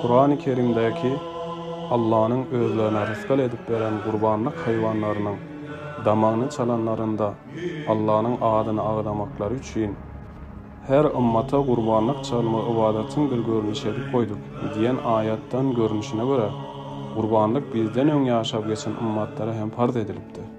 Kurany Kerimdäki Allanyň özlerine rysgal edip beren gurbanlyk haýwanlarynyň damagyny çalanlarynda Allanyň adyny agzamaklary üçin, Her ymmata gurbanlyk çalma ybadatyň bir görnüşi edip goýduk diýen aýatdan görnüşine görä, gurbanlyk bizden öň ýaşap geçen ymmatlara hem parz edilipdi.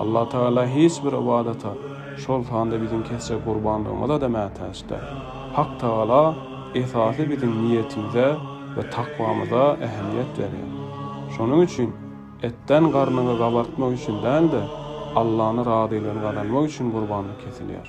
Allah Tagala hiç bir ybadata, şol sanda biziň kesjek gurbanlygymyza-da mätäç däl. Hak Tagala esasy biziň niýetimize we takwamyza ähmiýet berýär. Şonuň üçin etden garnyňy gabartmak üçin däl-de, Allany razylygyny gazanmak üçin gurbanlyk kesilýär.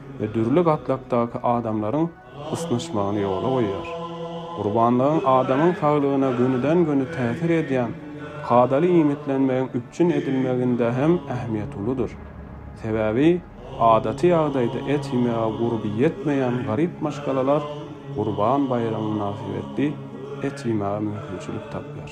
we dürli gatlakdaky adamlaryň ysnyşmagyny ýola goýýar. Gurbanlygyň adamyň saglygyna gönüden-göni täsir edýän kadaly iýmitlenmegiň üpjün edilmeginde hem ähmiýeti uludyr. Sebäbi adaty ýagdaýda et iýmege gurby ýetmeýän garyp maşgalalar Gurban baýramy mynasybetli et iýmäge mümkinçilik tapýar.